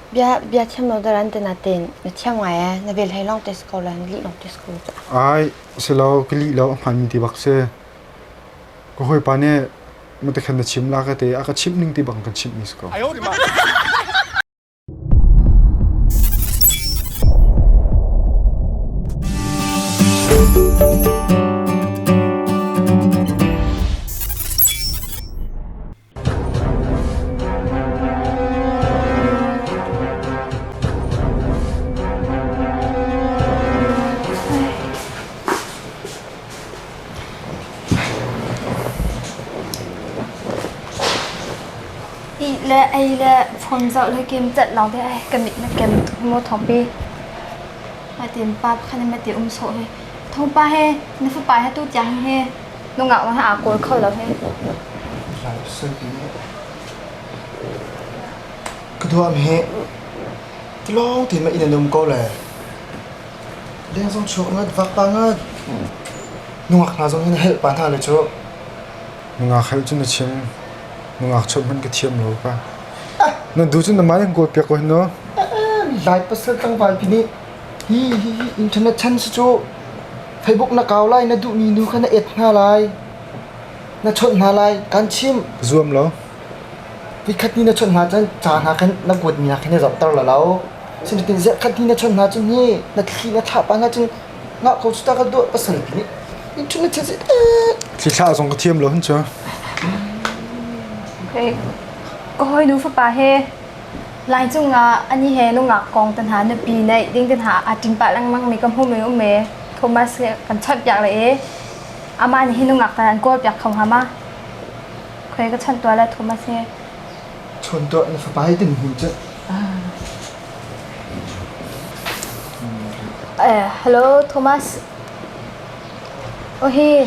Bia biathiam lo dar an ti natin na thiam ngai ee na vel hei lawng tes ko la na lih lawng tes ko. Ai si lo ka lih lo hman ti bak si. Ka hawipa nih matakhan na chim la ka te a ka chimh ning ti bang kan chimh ni ko. le ei le phone zoh le game cat lawng te ai ka mit na kem mo thong pe ma tin pa pakhat ne ma ti um so he thong pa he na fa pa he tu tiang he Nungak na aa kawl kho lo hei. Ka tuam hi tilawng ti ma ina num ko le leng zong chuak ngat vak pa ngat nungak hna zong hin help pa hna le chu nungak hel cun a chim nungak chot hman ka thiam lo ka na du cun na mai han goal piak ko hin no lai pasal tlangval pi nih Hihi internet chan si cuh! Facebook na kau lai, na duhmi nu kha na et hna lai, na chawnh hna lai, kaan chimh. Zuam law voikhat ni na chawnh hna cun ca hna khan na kuatmi hna kha na zohter la lo. Sinain ziatkhat ni na chawnh hna cun hi na thli na thlah pah hna cun ngah ko cu ta ka duah pasal ti nih internet chan si teh. Thli thlah zong ka thiam lo hun cu. Okay. Ka hawi nu fapa he Lai cungah ani he nungak kong te hna nupi neih ding te hna aa ṭin pah lengmang mi ka hmu mi um e Thomas he kan chawnh piak le e amah nih hi nungak tar an kawl piak kho hnga ma khoi ka chawnh tuah le Thomas he chawnh tuah na fapa hi tin hmu ceh Eh, hello Thomas oh hi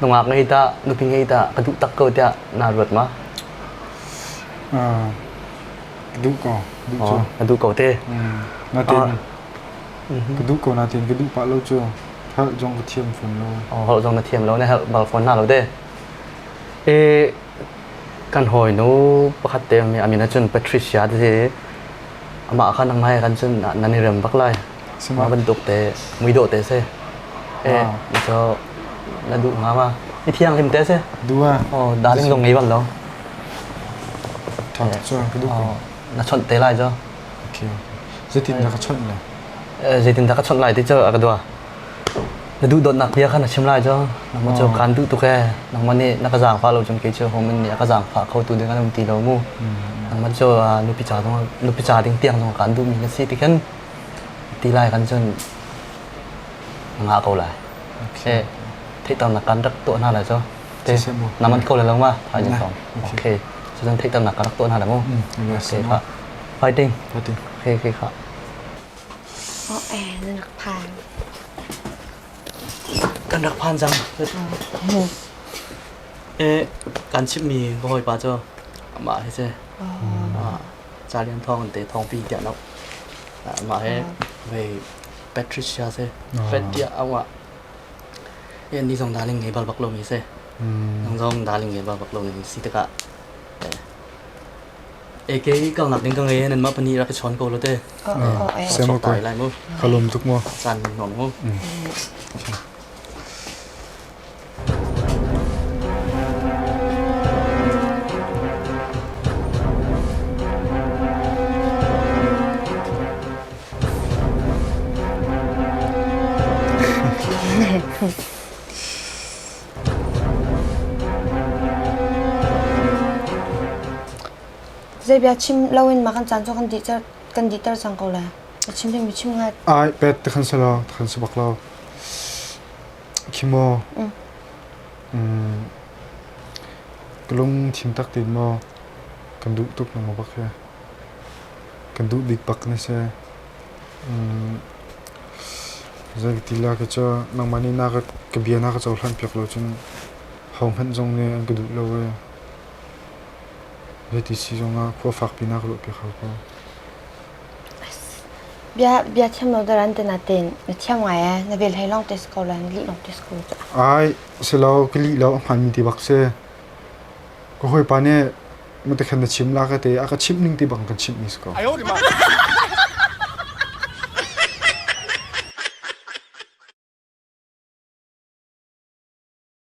Nungak ngei ta, nupi ngei ta, ka duh tak ko tiah naa ruat ma? ka duh ko, duh cu. ka duh ko te. Natin ka duh ko natin ka duh pah lo cu harh zong ka thiam fawn lo. Oh, harh zong na thiam lo na harh bal fawn hna lo de. E kan hawi nu pakhat te mi amin ahcun Patricia te si amah kha nang mai kan cun nan i rem bak lai. Mah bantuk te muidawh te si. Eh, mi cu na duh nga ma? Mi thianghlim te si. Dua. Oh, darling zong ngei bal lo. Ṭhat cu ka duh ko. Na chawnh te lai cu. Okay, zeitin dah ka chawnh lai? Zeitin dah ka chawnh lai ti cu a ka dua. Na duhdawtnak bia kha na chim lai cu. Nangmah cu kaan duh tuk ee. Nangmah nih na ka zaangfah lo cun kei cu homan nih a ka zaangfah kho tu ding an um ti lo mu. Nangmah cu nupi ca zong nupi ca ding tiang zong kaan duhmi na si ti khin ti lai kan cun ngah ko lai. Okay. Theihternak kan rak tuah hna lai cu. Na man ko lai lo ma? Thai ni sawm. Okay. Cu cun theihternak kan rak tuah hna lai mu. Okay, kha. Fighting. Fighting. Okay, okay, kha. Oh, eh, na nak phan. Kan rak phan cang. Eh, kan chimmi ka hawipa cu amah hi si. Ah. ca lian thawng in te thawngpi tiah lo. Ah, mah he ve Patricia se Fred tiah awah e ni zong daling ngei bal bak lo mi se nang zong daling ngei bal bak lo mi si tikah e ke kal nak ding ka ngei nan ma pani rak chon ko lo te Sema ko. pai lai mu Kalum tuk mo. chan non mu Zei bia chim loin ma kan caan cu kan dih ter kan dih ter cang ko le. A chim ding mi chim ngai. Ai pet te kan sala kan sabak lo. khi maw ka lung thim tak tein maw kan duh tuk nang bak hi kan duh bik bak na si zei ti la ka cu nangmah nih na ka bia na ka cohlan piak lo cun hohmanh zong nih an ka duh lo i zei ti si zong ah khua fakpi na ka ruah piak hau ko. Bia thiam lo deuh an ti nain na thiam ngai ee. Na vel hlei lawng te si ko lo, na lih lawng te si ko cu. Ai, si lo, ka lih lo a hmaanmi ti bak si. Ka hawipa nih matakan na chim la ka ti. A ka chimh ning ti bak in kan chimhmi si ko.